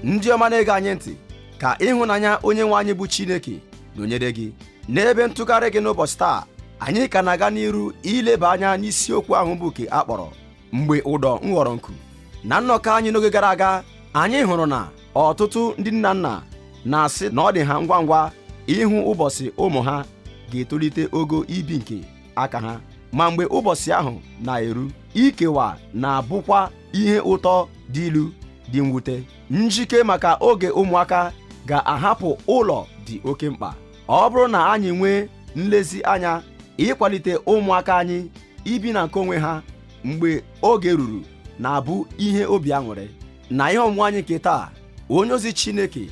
ndị ọma na-ege anyị ntị ka ịhụnanya onye nwe anyị bụ Chineke nọnyere gị n'ebe ntụgharị gị n'ụbọchị taa anyị ka na-aga n'iru ileba anya n'isiokwu ahụ bụ ke a kpọrọ mgbe ụdọ nghọrọ nku na nnọkọ anyị n'oge gara aga anyị hụrụ na ọtụtụ ndị nne na nna na-asị na ọ dị ha ngwa ngwa ịhụ ụbọchị ụmụ ha ga-etolite ogo ibi nke aka ha ma mgbe ụbọchị ahụ na-eru ikewa na-abụkwa ihe ụtọ dị ilu dị mwute njike maka oge ụmụaka ga-ahapụ ụlọ dị oke mkpa ọ bụrụ na anyị nwee nlezianya ịkwalite ụmụaka anyị ibi na nke onwe ha mgbe oge ruru na-abụ ihe obi aṅụrị na ihe ọmụmụ anyị nke taa onye ozi Chineke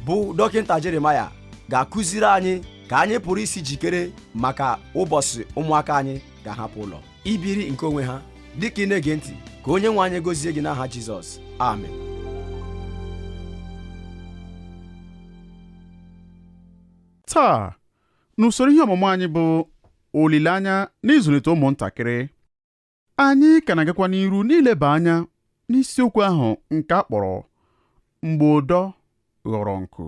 bụ dọkịta Jeremaya ga-akụziri anyị ka anyị pụrụ isi jikere maka ụbọchị ụmụaka anyị ga-ahapụ ụlọ ibiri nke onwe ha dịka ị na-ege ntị ka onye nwe anyị gozie gị n'aha Jizọs amen taa n'usoro ihe ọmụmụ anyị bụ olileanya n'ịzụlite ụmụntakịrị anyị ka na-agakwa n'iru n'ileba anya n'isiokwu ahụ nke a kpọrọ mgbe ụdọ ghọrọ nku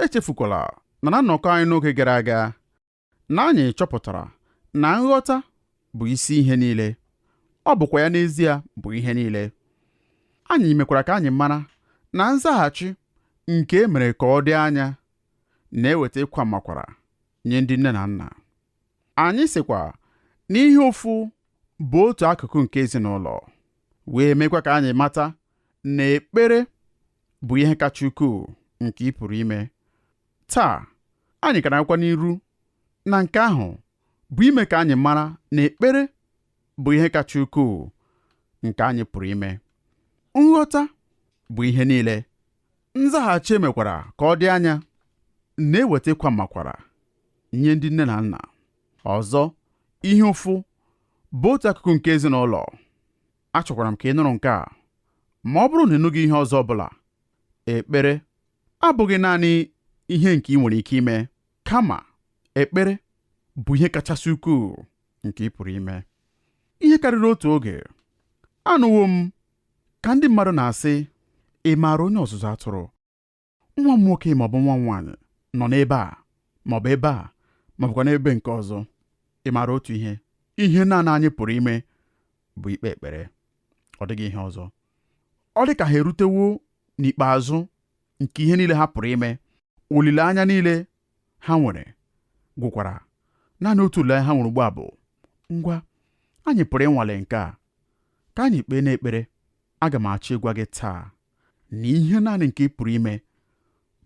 echefukwala na na nnọkọ anyị n'oge gara aga na anyị chọpụtara na nghọta bụ isi ihe niile ọ bụkwa ya n'ezie bụ ihe niile anyị mekwara ka anyị mara na nzaghachi nke e mere ka ọ dị anya na-eweta ịkwa mmakwara nye ndị nne na nna anyị sịkwa na ihe ụfụ bụ otu akụkụ nke ezinụlọ wee mekwa ka anyị mata na ekpere bụ ihe kacha ukwuu nke ị pụrụ ime taa anyị ka na-agakwa n'iru na nke ahụ bụ ime ka anyị mara na ekpere bụ ihe kacha ukwuu nke anyị pụrụ ime nghọta bụ ihe niile nzaghachi e mekwara ka ọ dị anya na-eweta ịkwa mmakwara nye ndị nne na nna ọzọ ihe ụfụ bụ otu akụkụ nke ezinụlọ achọkwara m ka ị nụrụ nke a ma ọ bụrụ na ị nụghị ihe ọzọ ọbụla ekpere abụghị naanị ihe nke i nwere ike ime kama ekpere bụ ihe kachasị ukwuu nke ị pụrụ ime ihe karịrị otu oge anụwo m Ka ndị mmadụ na-asị, Ị maara onye ọzụzụ atụrụ? Nwa m nwoke ma ọ bụ nwa m nwaanyị nọ n'ebe a ma ọ bụ ebe a ma ọ bụkwa n'ebe nke ọzọ. Ị maara otu ihe? Ihe naanị anyị pụrụ ime bụ ikpe ekpere. Ọ dịghị ihe ọzọ. Ọ dị ka ha erutewo n'ikpeazụ nke ihe niile ha pụrụ ime. Olileanya niile ha nwere gwụkwara naanị otu olileanya ha nwere ugbu a bụ ngwa anyị pụrụ ịnwale nke a ka anyị kpee n'ekpere aga m achọ ịgwa gị taa na ihe naanị nke ị pụrụ ime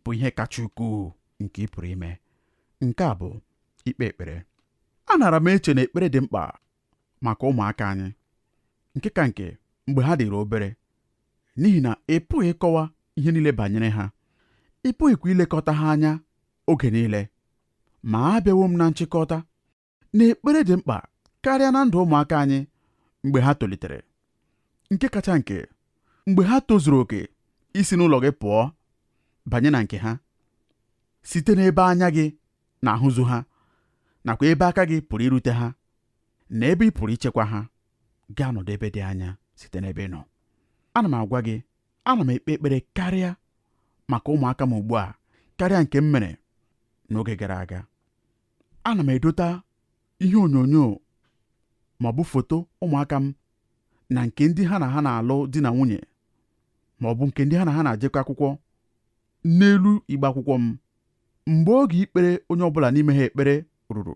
bụ ihe kacha ukwuu nke ị pụrụ ime nke a bụ ikpe ekpere anara m eche na ekpere dị mkpa maka ụmụaka anyị nke ka nke mgbe ha dịrị obere n'ihi na ị pụghị ịkọwa ihe niile banyere ha ị pụghịkwa ilekọta ha anya oge niile ma abịawo m na nchịkọta na ekpere dị mkpa karịa na ndụ ụmụaka anyị mgbe ha tolitere nke kacha nke mgbe ha tozuru oke isi n'ụlọ gị pụọ banye na nke ha site n'ebe anya gị na-ahụzu ha nakwa ebe aka gị pụrụ irute ha na ebe ị pụrụ ichekwa ha gaa nọdụ ebe dị anya site n'ebe ị nọ ana m agwa gị ana m ekpe ekpere karịa maka ụmụaka m ugbu a karịa nke m mere n'oge gara aga ana m edota ihe onyonyo ma ọ bụ foto ụmụaka m na nke ndị ha na ha na-alụ di na nwunye ma ọ bụ nke ndị ha na ha na-ajekọ akwụkwọ n'elu igbe akwụkwọ m mgbe oge ikpere onye ọbụla n'ime ha ekpere ruru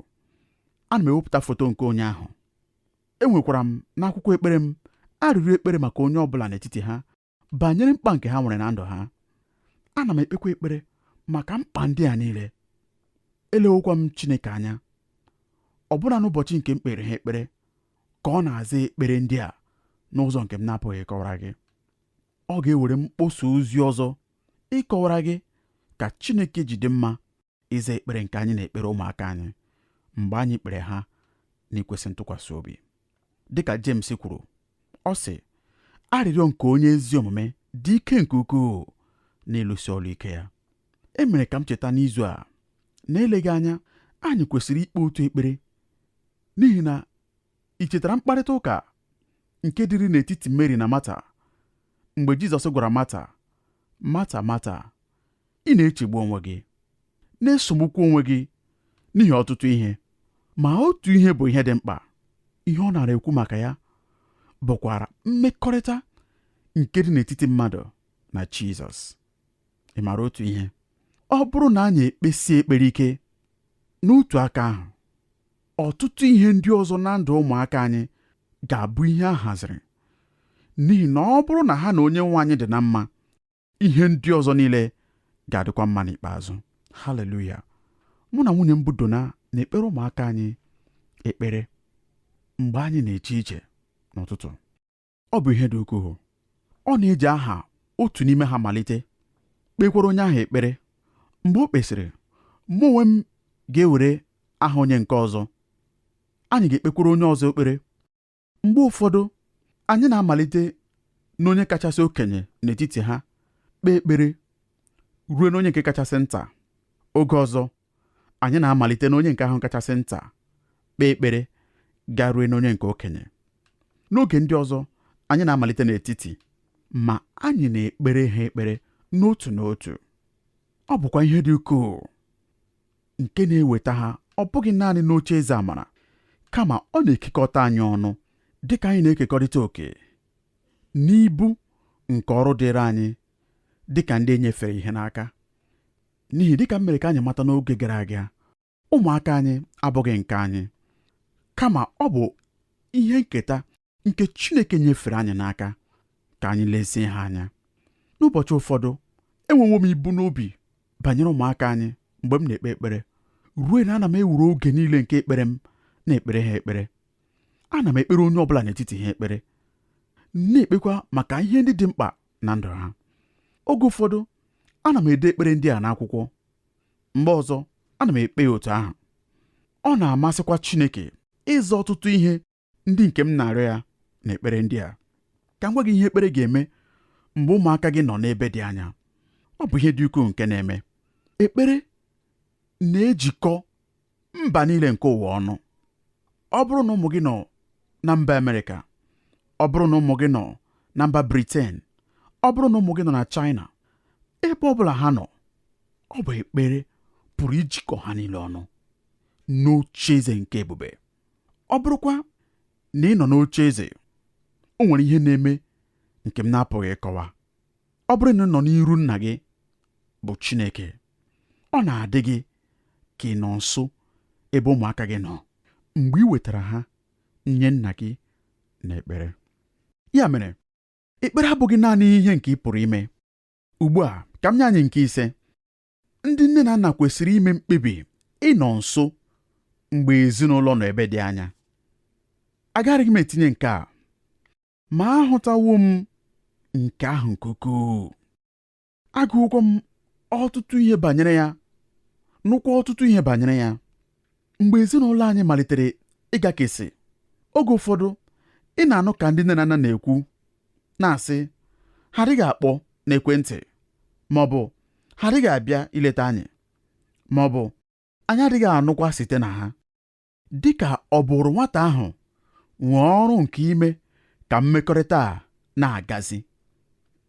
ana m ewepụta foto nke onye ahụ enwekwara m n'akwụkwọ ekpere m arịrịọ ekpere maka onye ọbụla n'etiti ha banyere mkpa nke ha nwere na ndụ ha ana m ekpekwa ekpere maka mkpa ndị a niile elewokwa m Chineke anya ọbụna n'ụbọchị nke m kpere ha ekpere ka ọ na-aza ekpere ndị a n'ụzọ nke m na-apụghị ịkọwara gị Ọ ga-ewere mkpọsa ozi ọzọ ịkọwara gị ka Chineke ji dị mma ịza ekpere nke anyị na-ekpere ụmụaka anyị mgbe anyị kpere ha n'ikwesị ntụkwasị obi dịka James kwuru ọ sị arịrịọ nke onye ezi omume dị ike nke ukwuu n'ịlụsi ọlụ ike ya e mere ka m cheta n'izu a na eleghị anya anyị kwesịrị ikpe otu ekpere n'ihi na I chetara mkparịta ụka nke dịrị n'etiti Meri na Mata mgbe Jizọs gwara Mata, Mata, Mata, ị na-echegbu onwe gị, na-esogbukwa onwe gị n'ihi ọtụtụ ihe, ma otu ihe bụ ihe dị mkpa. Ihe ọ nara ekwu maka ya bụkwara mmekọrịta nke dị n'etiti mmadụ na Jizọs. Ị mara otu ihe? Ọ bụrụ na anyị ekpesie ekpere ike n'otu aka ahụ, ọtụtụ ihe ndị ọzọ na ndụ ụmụaka anyị ga-abụ ihe a haziri n'ihi na ọ bụrụ na ha na onye nwe anyị dị na mma ihe ndị ọzọ niile ga-adịkwa mma n'ikpeazụ haleluya mụ na nwunye m bụ Dona na-ekpere ụmụaka anyị ekpere mgbe anyị na-eje ije n'ụtụtụ ọ bụ ihe dị ukwuu ọ na-eji aha otu n'ime ha malite kpekwara onye ahụ ekpere mgbe o kpesịrị mụ onwe m ga-ewere aha onye nke ọzọ anyị ga-ekpekwara onye ọzọ ekpere mgbe ụfọdụ anyị na-amalite n'onye kachasị okenye n'etiti ha kpee ekpere ruo n'onye nke kachasị nta oge ọzọ anyị na-amalite n'onye nke ahụ kachasị nta kpee ekpere garuo n'onye nke okenye n'oge ndị ọzọ anyị na-amalite n'etiti ma anyị na-ekpere ha ekpere n'otu n'otu ọ bụkwa ihe dị ukwuu nke na-eweta ha ọ bụghị naanị n'oche eze amara kama ọ na-ekekọta anyị ọnụ dị ka anyị na-ekekọrịta oke n'ibu nke ọrụ dịrị anyị dị ka ndị e nyefere ihe n'aka n'ihi dịka m mere ka anyị mata n'oge gara aga ụmụaka anyị abụghị nke anyị kama ọ bụ ihe nketa nke Chineke nyefere anyị n'aka ka anyị lezie ha anya n'ụbọchị ụfọdụ enwewo m ibu n'obi banyere ụmụaka anyị mgbe m na-ekpe ekpere ruo na ana m ewere oge niile nke ekpere m na-ekpere ha ekpere ana m ekpere onye ọbụla n'etiti ha ekpere na-ekpekwa maka ihe ndị dị mkpa na ndụ ha oge ụfọdụ ana m ede ekpere ndị a n'akwụkwọ mgbe ọzọ ana m ekpe ya otu ahụ ọ na-amasịkwa Chineke ịza ọtụtụ ihe ndị nke m na-arịọ ya n'ekpere ndị a ka m gwa gị ihe ekpere ga-eme mgbe ụmụaka gị nọ n'ebe dị anya ọ bụ ihe dị ukwuu nke na-eme ekpere na-ejikọ mba niile nke ụwa ọnụ ọ bụrụ na ụmụ gị nọ na mba Amerịka ọ bụrụ na ụmụ gị nọ na mba Briten ọ bụrụ na ụmụ gị nọ na China ebe ọ bụla ha nọ ọ bụ ekpere pụrụ ijikọ ha niile ọnụ n'oche eze nke ebube ọ bụrụkwa na ị nọ n'oche eze o nwere ihe na-eme nke m na-apụghị ịkọwa ọ bụrụ na ị nọ n'iru nna gị bụ Chineke ọ na-adị gị ka ị nọ nso ebe ụmụaka gị nọ mgbe i wetara ha nye nna gị n'ekpere ya mere ekpere abụghị naanị ihe nke ị pụrụ ime ugbu a ka m nye anyị nke ise ndị nne na nna kwesịrị ime mkpebi ịnọ nso mgbe ezinụlọ nọ ebe dị anya agaraghị m etinye nke a ma ahụtawo m nke ahụ nke ukwuu agụwokwa m ọtụtụ ihe banyere ya nụkwa ọtụtụ ihe banyere ya mgbe ezinụlọ anyị malitere ịgakesị oge ụfọdụ ị na-anụ ka ndị nne na nna na-ekwu na-asị ha adịghị akpọ n'ekwentị ma ọ bụ ha adịghị abịa ileta anyị ma ọ bụ anyị adịghị anụkwa site na ha dị ka ọ bụrụ nwata ahụ nwee ọrụ nke ime ka mmekọrịta a na-agazi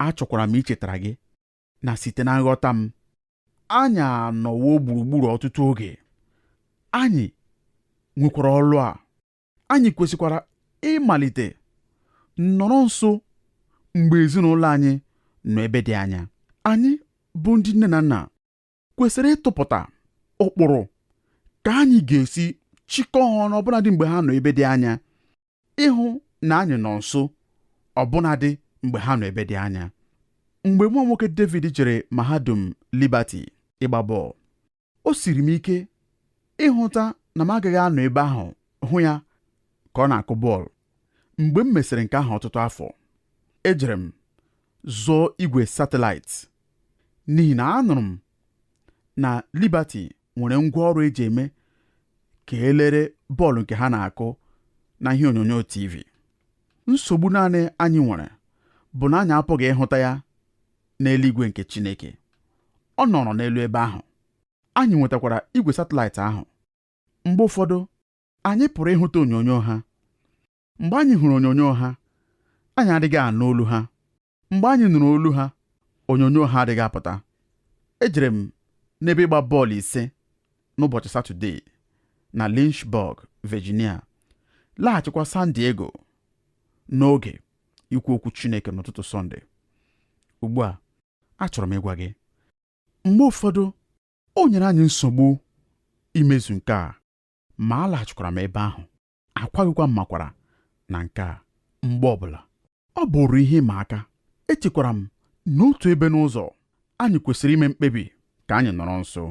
achọkwara m ichetara gị na site na nghọta m anyị anọwo gburugburu ọtụtụ oge anyị nwekwara ọlụ a anyị kwesịkwara ịmalite nọrọ nso mgbe ezinụlọ anyị nọ ebe dị anya anyị bụ ndị nne na nna kwesịrị ịtụpụta ụkpụrụ ka anyị ga-esi chịkọọ ha ọnụ ọbụnadị mgbe ha nọ ebe dị anya ịhụ na anyị nọ nso ọbụnadị mgbe ha nọ ebe dị anya mgbe nwa m nwoke David jere mahadum Liberty ịgba bọọlụ o siri m ike ịhụta na m agaghị anọ ebe ahụ hụ ya ka ọ na-akụ bọọlụ mgbe m mesịrị nke ahụ ọtụtụ afọ ejere m zụọ igwe satịlaịtị n'ihi na anụrụ m na Liberty nwere ngwa ọrụ e ji eme ka e lere bọọlụ nke ha na-akụ na ihe onyonyo TV nsogbu naanị anyị nwere bụ na anyị apụghị ịhụta ya n'eluigwe nke Chineke ọ nọrọ n'elu ebe ahụ anyị nwetakwara igwe satịlaịtị ahụ mgbe ụfọdụ anyị pụrụ ịhụta onyonyo ha mgbe anyị hụrụ onyonyo ha anyị adịghị anụ olu ha mgbe anyị nụrụ olu ha onyonyo ha adịghị apụta ejere m n'ebe ịgba bọọlụ ise n'ụbọchị satọde na Lynchburg, Virginia laghachikwa San Diego n'oge ikwu okwu Chineke n'ụtụtụ Sọnde ugbu a achọrọ m ịgwa gị mgbe ụfọdụ o nyere anyị nsogbu imezu nke a ma alaghachikwara m ebe ahụ akwaghịkwa m mmakwaara na nke a mgbe ọbụla ọ bụrụ ihe ịma aka echekwara m na otu ebe n'ụzọ anyị kwesịrị ime mkpebi ka anyị nọrọ nso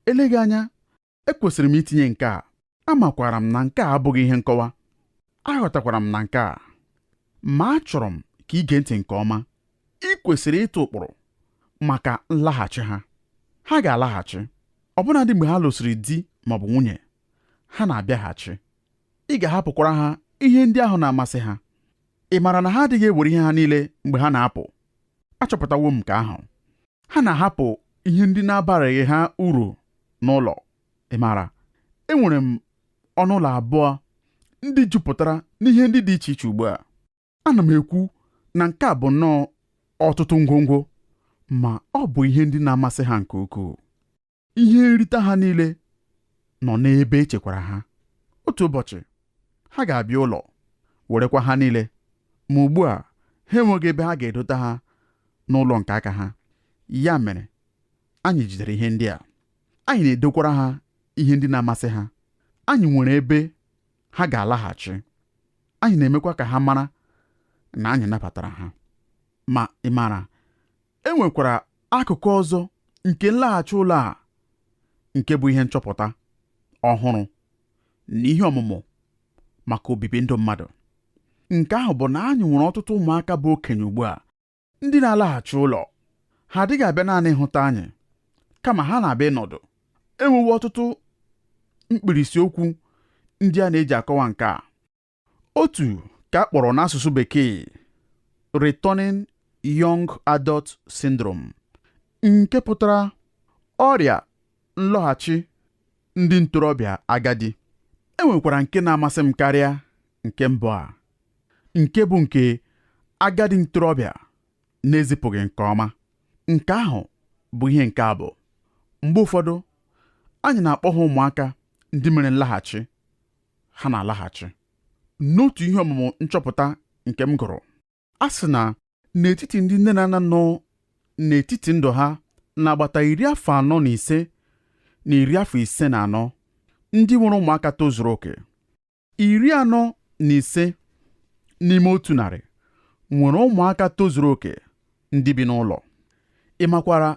eleghị anya ekwesịrị m itinye nke a amakwara m na nke a abụghị ihe nkọwa aghọtakwara m na nke a ma achọrọ m ka i gee ntị nke ọma i kwesịrị ịtụ ụkpụrụ maka nlaghachi ha ha ga-alaghachi ọbụnadị mgbe ha lụsịrị di ma ọ bụ nwunye ha na-abịaghachi ị ga-ahapụkwara ha ihe ndị ahụ na-amasị ha ị maara na ha adịghị ewere ihe ha niile mgbe ha na-apụ achọpụtawo m nke ahụ ha na-ahapụ ihe ndị na-abaraghị ha uru n'ụlọ ị maara enwere m ọnụ ụlọ abụọ ndị jupụtara n'ihe ndị dị iche iche ugbu a ana m ekwu na nke a bụ nnọọ ọtụtụ ngwongwo ma ọ bụ ihe ndị na-amasị ha nke ukwuu ihe nrite ha niile nọ n'ebe echekwara ha otu ụbọchị ha ga-abịa ụlọ werekwa ha niile ma ugbu a ha enweghị ebe ha ga-edota ha n'ụlọ nke aka ha ya mere anyị jidere ihe ndị a anyị na-edokwara ha ihe ndị na-amasị ha anyị nwere ebe ha ga-alaghachi anyị na-emekwa ka ha mara na anyị nabatara ha ma ị maara e nwekwara akụkụ ọzọ nke nlaghachi ụlọ a nke bụ ihe nchọpụta ọhụrụ na ihe ọmụmụ maka obibi ndụ mmadụ nke ahụ bụ na anyị nwere ọtụtụ ụmụaka bụ okenye ugbu a Ndị na-alaghachi ụlọ ha adịghị abịa naanị ịhụta anyị kama ha na-abịa ịnọdụ. E nwewo ọtụtụ mkpirisi okwu ndị a na-eji akọwa nke a. Otu ka a kpọrọ n'asụsụ Bekee Returning Young Adult Syndrome nke pụtara ọrịa nlọghachi ndị ntorobịa agadi. E nwekwara nke na-amasị m karịa nke mbụ a. nke bụ nke agadi ntorobịa na-ezipụghị nke ọma nke ahụ bụ ihe nke a bụ mgbe ụfọdụ anyị na-akpọ ha ụmụaka ndị mere nlaghachi ha na-alaghachi n'otu ihe ọmụmụ nchọpụta nke m gụrụ a sị na n'etiti ndị nne na nna nọ n'etiti ndụ ha n'agbata iri afọ anọ na ise na iri afọ ise na anọ ndị nwere ụmụaka tozuru oke iri anọ na ise n'ime otu narị nwere ụmụaka tozuru oke ndị bi n'ụlọ ị makwara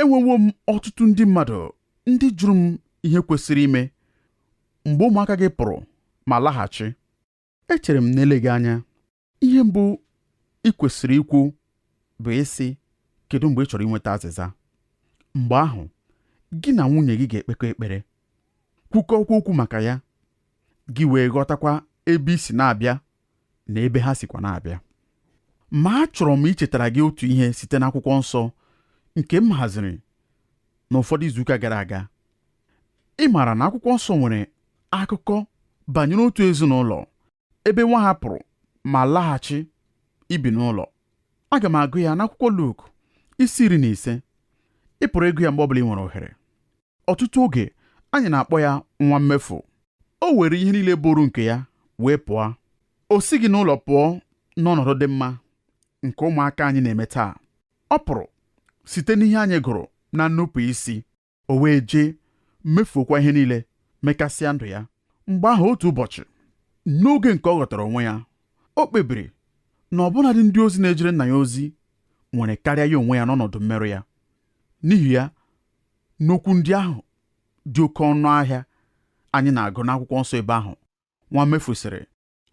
enwewo m ọtụtụ ndị mmadụ ndị jụrụ m ihe kwesịrị ime mgbe ụmụaka gị pụrụ ma laghachi echere m n'eleghị anya ihe mbụ ị kwesịrị ikwu bụ ịsị kedu mgbe ị chọrọ inweta azịza mgbe ahụ gị na nwunye gị ga-ekpekọ ekpere kwukọkwa okwu maka ya gị wee ghọtakwa ebe i si na-abịa na ebe ha sikwa na-abịa ma achọrọ m ichetara gị otu ihe site n'akwụkwọ nsọ nke m haziri n'ụfọdụ izuụka gara aga ị maara na akwụkwọ nsọ nwere akụkọ banyere otu ezinụlọ ebe nwa ha pụrụ ma laghachi ibi n'ụlọ aga m agụ ya n'akwụkwọ Luk isi iri na ise ị pụrụ ịgụ ya mgbe ọbụla ị nwere ohere ọtụtụ oge anyị na-akpọ ya nwa mmefu o were ihe niile bụrụ nke ya wee pụọ o sighị n'ụlọ pụọ n'ọnọdụ dị mma nke ụmụaka anyị na-eme taa ọ pụrụ site n'ihe anyị gụrụ na nnupụ isi o wee jee mefuokwa ihe niile mekasịa ndụ ya mgbe ahụ otu ụbọchị n'oge nke ọ ghọtara onwe ya o kpebiri na ọbụnadị ndị ozi na-ejere nna ya ozi nwere karịa ya onwe ya n'ọnọdụ mmerụ ya n'ihi ya n'okwu ndị ahụ dị oke ọnụ ahịa anyị na-agụ n'akwụkwọ nsọ ebe ahụ nwa mmefu sịrị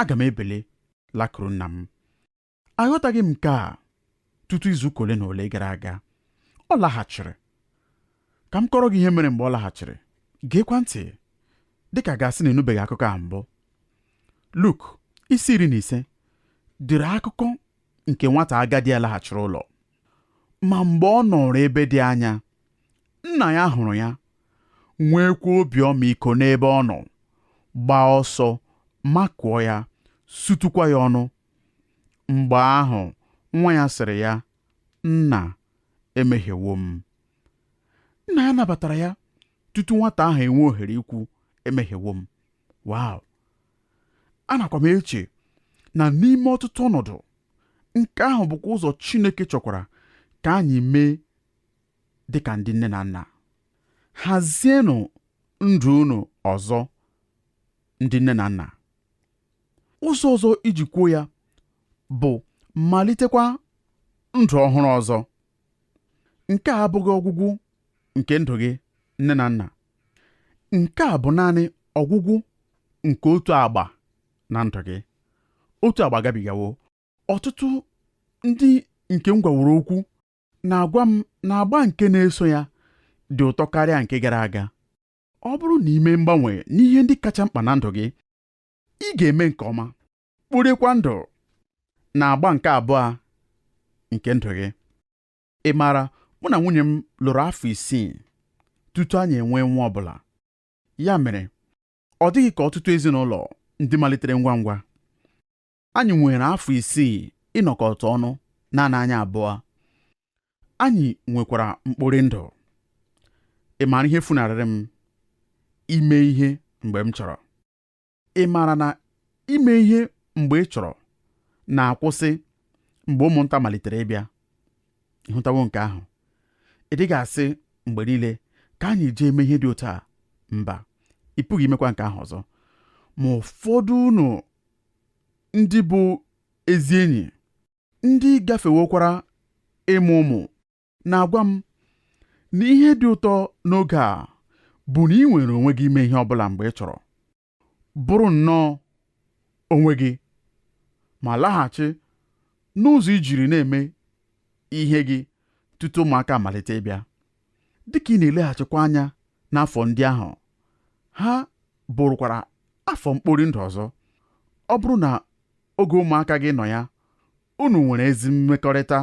aga m ebili lakuru nna m aghọtaghị m nke a tutu izu ụka ole na ole gara aga ọ laghachiri ka m kọrọ gị ihe mere mgbe ọ laghachiri geekwa ntị dịka a ga-asị na ị nụbeghị akụkọ a mbụ Luk isi iri na ise dere akụkọ nke nwata agadi a laghachiri ụlọ ma mgbe ọ nọrọ ebe dị anya nna ya hụrụ ya nweekwa obi ọmịiko n'ebe ọ nọ gbaa ọsọ makụọ ya sutụkwa ya ọnụ Mgbe ahụ, nwa ya sịrị ya, Nna, emehiewo m. Nna ya nabatara ya tutu nwata ahụ enwe ohere ikwu, Emehiewo m. Wow! Anakwa m eche na n'ime ọtụtụ ọnọdụ, nke ahụ bụkwa ụzọ Chineke chọkwara ka anyị mee dị ka ndị nne na nna. Hazienụ ndụ unu ọzọ, ndị nne na nna. ụzọ ọzọ iji kwuo ya bụ malitekwa ndụ ọhụrụ ọzọ nke a abụghị ọgwụgwụ nke ndụ gị nne na nna nke a bụ naanị ọgwụgwụ nke otu agba na ndụ gị otu agba gabigawo ọtụtụ ndị nke m gwaworo okwu na-agwa m na agba nke na-eso ya dị ụtọ karịa nke gara aga ọ bụrụ na i mee mgbanwe n'ihe ndị kacha mkpa na ndụ gị ị ga-eme nke ọma kporikwa ndụ na agba nke abụọ nke ndụ gị ị maara mụ na nwunye m lụrụ afọ isii tutu anyị enwee nwa ọbụla ya mere ọ dịghị ka ọtụtụ ezinụlọ ndị malitere ngwa ngwa anyị nwere afọ isii ịnọkọta ọnụ naanị anyị abụọ anyị nwekwara mkpori ndụ ị maara ihe funarịrị m ime ihe mgbe m chọrọ ị maara na ime ihe mgbe ị chọrọ na-akwụsị mgbe ụmụnta malitere ịbịa ị hụtawo nke ahụ ị dịghị asị mgbe niile ka anyị jee mee ihe dị otu a mba ị pụghị imekwa nke ahụ ọzọ ma ụfọdụ unu ndị bụ ezi enyi ndị gafewokwara ịmụ ụmụ na-agwa m na ihe dị ụtọ n'oge a bụ na i nwere onwe gị ime ihe ọ bụla mgbe ị chọrọ bụrụ nnọọ onwe gị ma laghachi n'ụzọ i jiri na-eme ihe gị tutu ụmụaka amalite ịbịa Dịka ị na-eleghachikwa anya n'afọ ndị ahụ, ha bụrụkwara afọ mkpori ndụ ọzọ. Ọ bụrụ na oge ụmụaka gị nọ ya, unu nwere ezi mmekọrịta,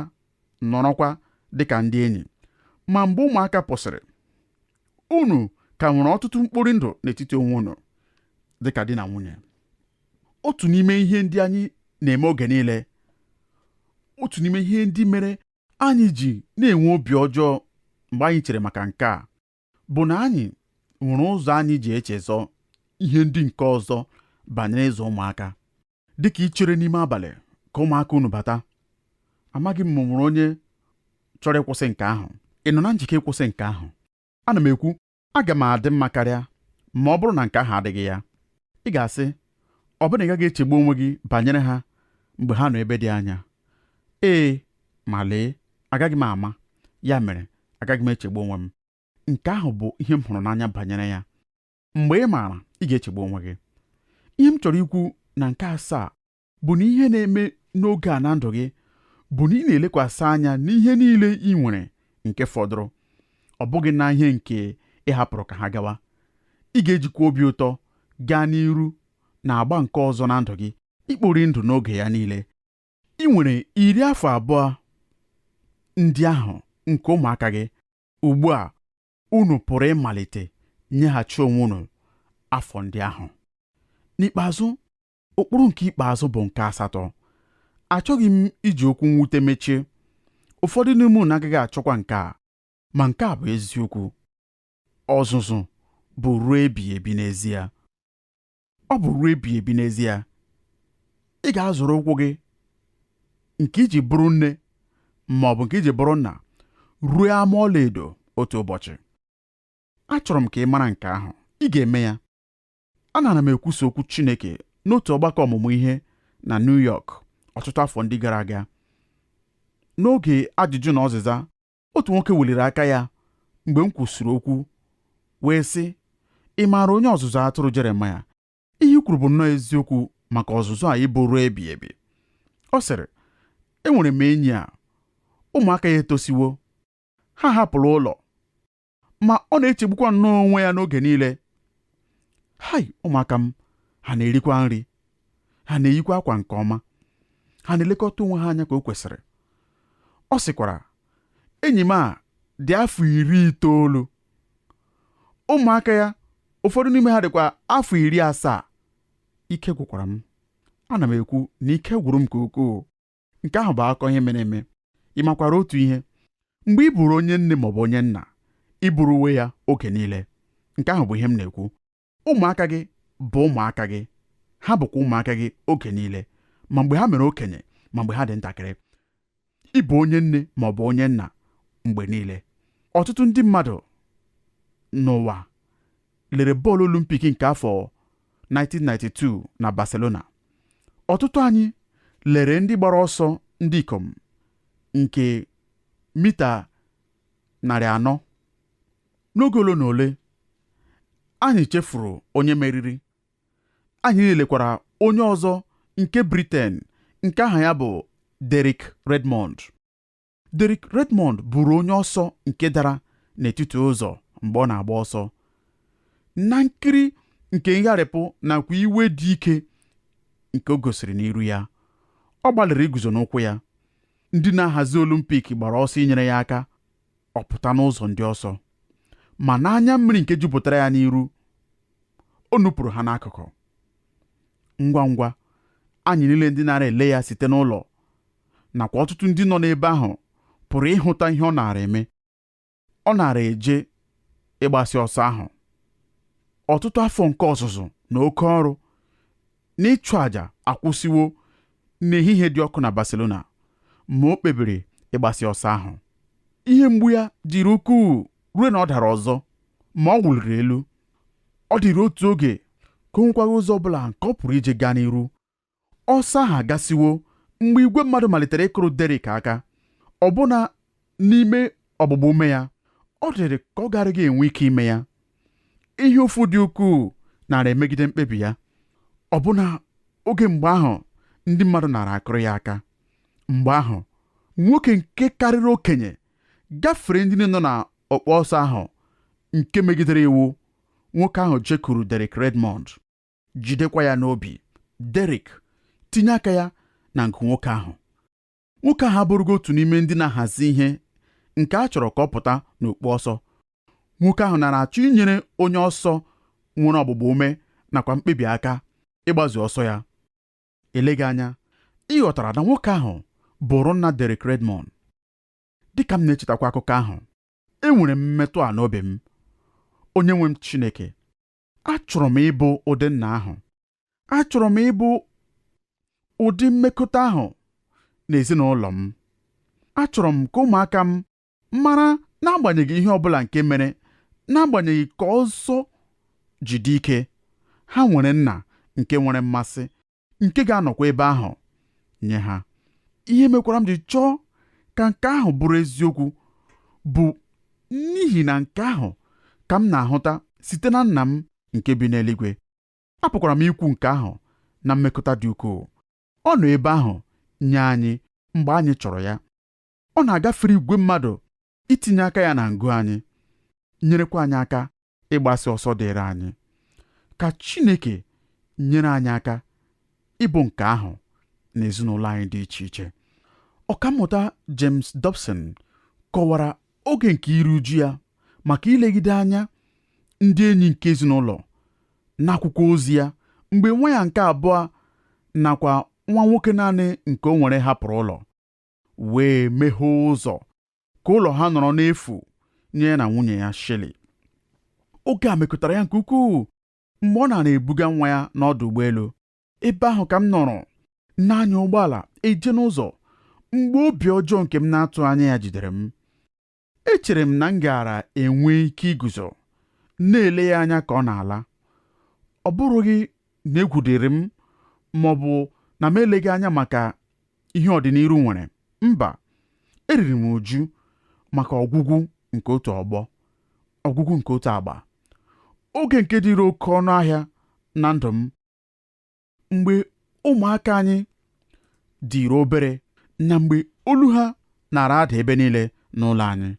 nọrọkwa dịka ndị enyi. Ma mgbe ụmụaka pụsịrị, unu ka nwere ọtụtụ mkpori ndụ n'etiti onwe unu dịka di na nwunye. Otu n'ime ihe ndị anyị na-eme oge niile, otu n'ime ihe ndị mere anyị ji na-enwe obi ọjọọ mgbe anyị chere maka nke a bụ na anyị nwere ụzọ anyị ji echezọ ihe ndị nke ọzọ banyere ịzụ ụmụaka dịka ichere n'ime abalị ka ụmụaka unu bata amaghị m ma o nwere onye chọrọ ịkwụsị nke ahụ ị nọ na njike ịkwụsị nke ahụ ana m ekwu aga m adị mma karịa ma ọ bụrụ na nke ahụ adịghị ya ị ga-asị ọ bụ na ị gaghị echegbu onwe gị banyere ha mgbe ha nọ ebe dị anya ee ma lee agaghị m ama ya mere agaghị m echegbu onwe m nke ahụ bụ ihe m hụrụ n'anya banyere ya mgbe ị maara ị ga-echegbu onwe gị ihe m chọrọ ikwu na nke asaa bụ na ihe na-eme n'oge a na ndụ gị bụ na ị na-elekwasị anya n'ihe niile i nwere nke fọdụrụ ọ bụghị na ihe nke ị hapụrụ ka ha gawa ị ga-ejikwa obi ụtọ gaa n'iru na agba nke ọzọ na ndụ gị ikpori ndụ n'oge ya niile i nwere iri afọ abụọ ndị ahụ nke ụmụaka gị ugbu a unu pụrụ ịmalite nyeghachi onwe unu afọ ndị ahụ n'ikpeazụ ụkpụrụ nke ikpeazụ bụ nke asatọ achọghị m iji okwu mwute mechie ụfọdụ n'ime unu agaghị achọkwa nke a ma nke a bụ eziokwu ọzụzụ bụ ruo ebighị ebi n'ezie ọ bụ ruo ebighị ebi n'ezie ị ga-azọrọ ụkwụ gị nke i ji bụrụ nne ma ọ bụ nke i ji bụrụ nna ruo ama ọlaedo otu ụbọchị achọrọ m ka ị mara nke ahụ ị ga-eme ya Anara m ekwusa okwu Chineke n'otu ọgbakọ ọmụmụ ihe na New York ọtụtụ afọ ndị gara aga. N'oge ajụjụ na ọzịza, otu nwoke weliri aka ya mgbe m kwusịrị okwu wee sị, Ị maara onye ọzụzụ atụrụ Jeremaya? Ihe i kwuru bụ nnọọ eziokwu maka ọzụzụ a ịbụ ruo ebighị ebi. Ọ sịrị, Enwere m enyi a, ụmụaka ya etosiwo, ha hapụrụ ụlọ, ma ọ na-echegbukwa nnọọ onwe ya n'oge niile hai ụmụaka m ha na-erikwa nri ha na-eyikwa akwa nke ọma ha na-elekọta onwe ha anya ka o kwesịrị ọ sịkwara enyi m a dị afọ iri itoolu ụmụaka ya ụfọdụ n'ime ha dịkwa afọ iri asaa ike gwụkwara m ana m ekwu na ike gwụrụ m nke ukwuu nke ahụ bụ akụkọ ihe mere eme ị makwara otu ihe mgbe ị bụrụ onye nne ma ọ bụ onye nna ị bụrụwe ya oge niile nke ahụ bụ ihe m na-ekwu ụmụaka gị bụ ụmụaka gị ha bụkwa ụmụaka gị oge niile ma mgbe ha mere okenye ma mgbe ha dị ntakịrị ị bụ onye nne ma ọ bụ onye nna mgbe niile ọtụtụ ndị mmadụ n'ụwa lere bọọlụ olimpik nke afọ 1992 na Barcelona ọtụtụ anyị lere ndị gbara ọsọ ndị ikom nke mita narị anọ n'oge ole na ole anyị chefuru onye meriri anyị lekwara onye ọzọ nke Britain nke aha ya bụ Derek Redmond Derek Redmond bụrụ onye ọsọ nke dara n'etiti ụzọ mgbe ọ na-agba ọsọ na nkiri nke ngharịpụ nakwa iwe dị ike nke o gosiri n'iru ya ọ gbalịrị iguzo n'ụkwụ ya ndị na-ahazi olimpik gbara ọsọ inyere ya aka ọ pụta n'ụzọ ndị ọsọ ma n'anya mmiri nke jupụtara ya n'iru o nupụrụ ha n'akụkụ ngwa ngwa anyị niile ndị nara ele ya site n'ụlọ nakwa ọtụtụ ndị nọ n'ebe ahụ pụrụ ịhụta ihe ọ naara eme ọ naara eje ịgbasị ọsọ ahụ ọtụtụ afọ nke ọzụzụ na oke ọrụ na ịchụ àjà akwụsịwo n'ehihie dị ọkụ na Barcelona ma o kpebiri ịgbasị ọsọ ahụ ihe mgbu ya dịrị ukwuu ruo na ọ dara ọzọ ma ọ wụliri elu ọ dịrị otu oge ka o nwekwaghị ụzọ ọ bụla nke ọ pụrụ iji gaa n'iru Ọsọ ahụ agasịwo mgbe igwe mmadụ malitere ịkụrụ Derek aka, ọbụna n'ime ọgbụgba ume ya, ọ dịrị ka ọ garaghị enwe ike ime ya. Ihe ụfụ dị ukwuu nara emegide mkpebi ya, ọbụna oge mgbe ahụ ndị mmadụ nara akụrụ ya aka. Mgbe ahụ, nwoke nke karịrị okenye gafere ndị niile nọ na ọkpọ ọsọ ahụ nke megidere iwu, nwoke ahụ jekuru Derek Redmond. jidekwa ya n'obi Derek tinye aka ya na nke nwoke ahụ nwoke ahụ abụrụghị otu n'ime ndị na-ahazi ihe nke a chọrọ ka ọ pụta n'okpu ọsọ nwoke ahụ nara achọ inyere onye ọsọ nwere ọgbụgba ume nakwa mkpebi aka ịgbazu ọsọ ya eleghị anya ị ghọtara na nwoke ahụ bụrụ nna Derek Redmond dịka m na-echetakwa akụkọ ahụ enwere m mmetụ a n'obi m onye nwe m Chineke achọrọ m ịbụ ụdị nna ahụ achọrọ m ịbụ ụdị mmekọta ahụ n'ezinụlọ m achọrọ m ka ụmụaka m mara n'agbanyeghị ihe ọ bụla nke mere n'agbanyeghị ka ọsọ ji dị ike ha nwere nna nke nwere mmasị nke ga-anọkwa ebe ahụ nye ha ihe mekwara m ji chọọ ka nke ahụ bụrụ eziokwu bụ n'ihi na nke ahụ ka m na-ahụta site na nna m nke bi n'eluigwe apụkwara m ikwu nke ahụ na mmekọta dị ukwuu ọ nọ ebe ahụ nye anyị mgbe anyị chọrọ ya ọ na-agafere igwe mmadụ itinye aka ya na ngụ anyị nyerekwa anyị aka ịgbasị ọsọ dịịrị anyị ka Chineke nyere anyị aka ịbụ nke ahụ na ezinụlọ anyị dị iche iche ọkammụta James Dobson kọwara oge nke iru uju ya maka ilegide anya ndị enyi nke ezinụlọ n'akwụkwọ ozi ya mgbe nwa ya nke abụọ nakwa nwa nwoke naanị nke o nwere hapụrụ ụlọ wee meghee ụzọ ka ụlọ ha nọrọ n'efu nye ya na nwunye ya Shirley. Oge a mekụtara ya nke ukwuu mgbe ọ nara ebuga nwa ya n'ọdụ ụgbọelu. Ebe ahụ ka m nọrọ na-anya ụgbọala eje n'ụzọ mgbe obi ọjọọ nke m na-atụ anya ya jidere m. Echere m na m gaara enwe ike iguzo, na-ele ya anya ka ọ na-ala. Ọ bụrụghị na egwu dịrị m ma ọ bụ na m eleghị anya maka ihe ọdịniru nwere. Mba, eriri m uju maka ọgwụgwụ nke otu ọgbọ, ọgwụgwụ nke otu agba, oge nke dịrị oke ọnụ ahịa na ndụ m. mgbe ụmụaka anyị dịrị obere na mgbe olu ha nara ada ebe niile n'ụlọ anyị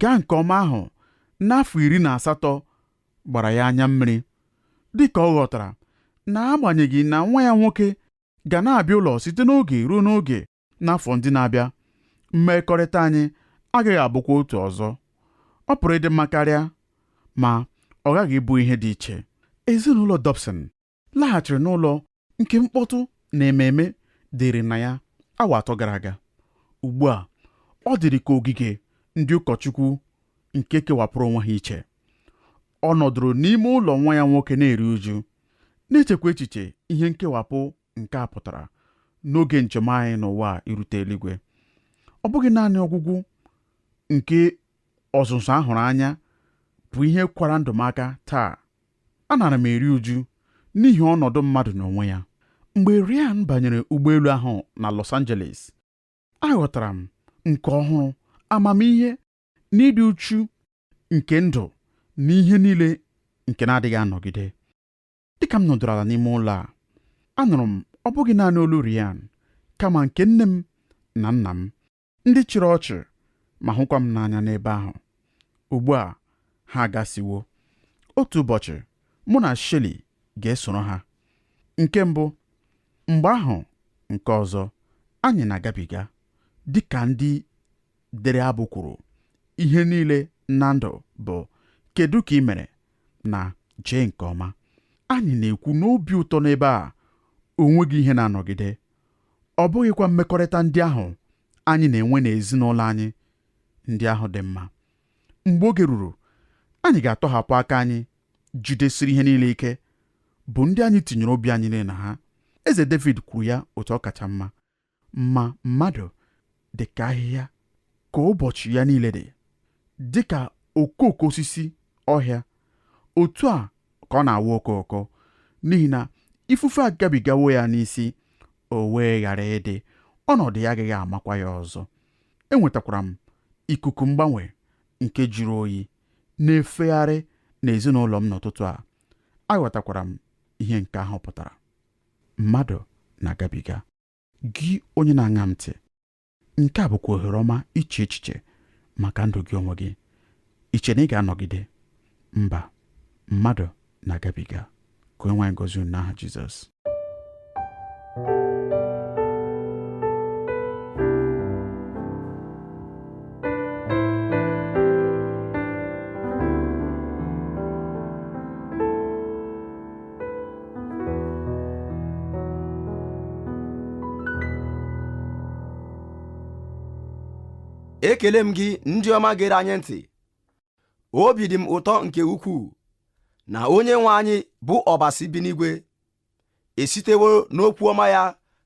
gaa nke ọma ahụ n'afọ iri na asatọ gbara ya anya mmiri dị ka ọ ghọtara na agbanyeghị na nwa ya nwoke ga na-abịa ụlọ site n'oge ruo n'oge n'afọ ndị na-abịa mmekọrịta anyị agaghị abụkwa otu ọzọ ọ pụrụ ịdị mma karịa ma ọ ghaghị ịbụ ihe dị iche ezinụlọ Dobson laghachiri n'ụlọ nke mkpọtụ na ememe dịrị na ya awa atọ gara aga ugbu a ọ dịrị ka ogige ndị ụkọchukwu nke kewapụrụ onwe ha iche ọ nọdụrụ n'ime ụlọ nwa ya nwoke na-eri uju na-echekwa echiche ihe nkewapụ Nke a pụtara n'oge njem anyị n'ụwa irute eluigwe ọ bụghị naanị ọgwụgwụ nke ọzụzụ a hụrụ anya bụ ihe kwara ndụ m aka taa anara m eri uju n'ihi ọnọdụ mmadụ n'onwe ya mgbe Ryan banyere ụgbọelu ahụ na Los Angeles aghọtara m nke ọhụrụ amamihe na ịdị uchu nke ndụ na ihe niile nke na-adịghị anọgide dịka m nọdụrụ ala n'ime ụlọ a anụrụ m ọ bụghị naanị olu Ryan kama nke nne m na nna m ndị chịrị ọchị ma hụkwa m n'anya n'ebe ahụ ugbu a ha agasiwo otu ụbọchị mụ na Shirley ga-esoro ha nke mbụ mgbe ahụ nke ọzọ anyị na-agabiga dịka ndị dere abụ kwuru ihe niile na ndụ bụ kedu ka ị mere na jee nke ọma anyị na-ekwu n'obi ụtọ n'ebe a o nweghị ihe na-anọgide ọ bụghịkwa mmekọrịta ndị ahụ anyị na-enwe n'ezinụlọ anyị ndị ahụ dị mma mgbe oge ruru anyị ga-atọhapụ aka anyị jidesiri ihe niile ike bụ ndị anyị tinyere obi anyị niile na ha eze David kwuru ya otu ọ kacha mma ma mmadụ dị ka ahịhịa ka ụbọchị ya niile dị dị ka okooko osisi ọhịa otu a ka ọ na-awa okooko n'ihi na ifufe agabigawo ya n'isi o wee ghara ịdị ọnọdụ ya agaghị amakwa ya ọzọ enwetakwara m ikuku mgbanwe nke jụrụ oyi na-efegharị n'ezinụlọ m n'ụtụtụ a aghọtakwara m ihe nke ahụ pụtara mmadụ na-agabiga gị onye na-aṅa m ntị nke a bụkwa ohere ọma iche echiche maka ndụ gị onwe gị i che na ị ga-anọgide mba mmadụ na-agabiga ka onye nwe anyị gozie unu n'aha Jizọs ekele m gị ndị ọma gere anyị ntị obi dị m ụtọ nke ukwuu na onye nwe anyị bụ ọbasi bi n'igwe esitewo n'okwu ọma ya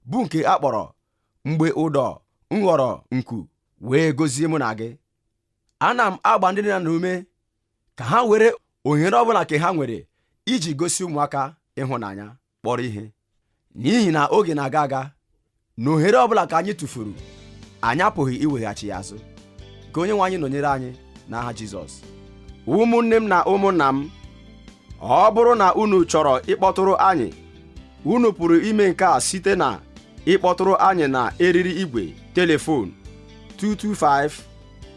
bụ nke a kpọrọ mgbe ụdọ ghọrọ nku wee gozie mụ na gị ana m agba ndị nna ume ka ha were ohere ọbụla nke ha nwere iji gosi ụmụaka ịhụnanya kpọrọ ihe n'ihi na oge na-aga aga na ohere ọbụla ka anyị tụfuru anyị apụghị iweghachi ya azụ ka onye nwe anyị nọnyere anyị n'aha Jizọs ụmụnne m na ụmụnna m ọ bụrụ na unu chọrọ ịkpọtụrụ anyị unu pụrụ ime nke a site na ịkpọtụrụ anyị na eriri igwe telefon 225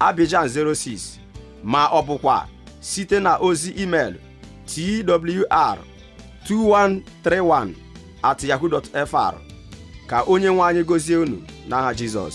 Abidjan 06 ma ọ bụkwa site na ozi email twr 2131 at yahoo.fr ka onye nwe anyị gozie unu n'aha Jizọs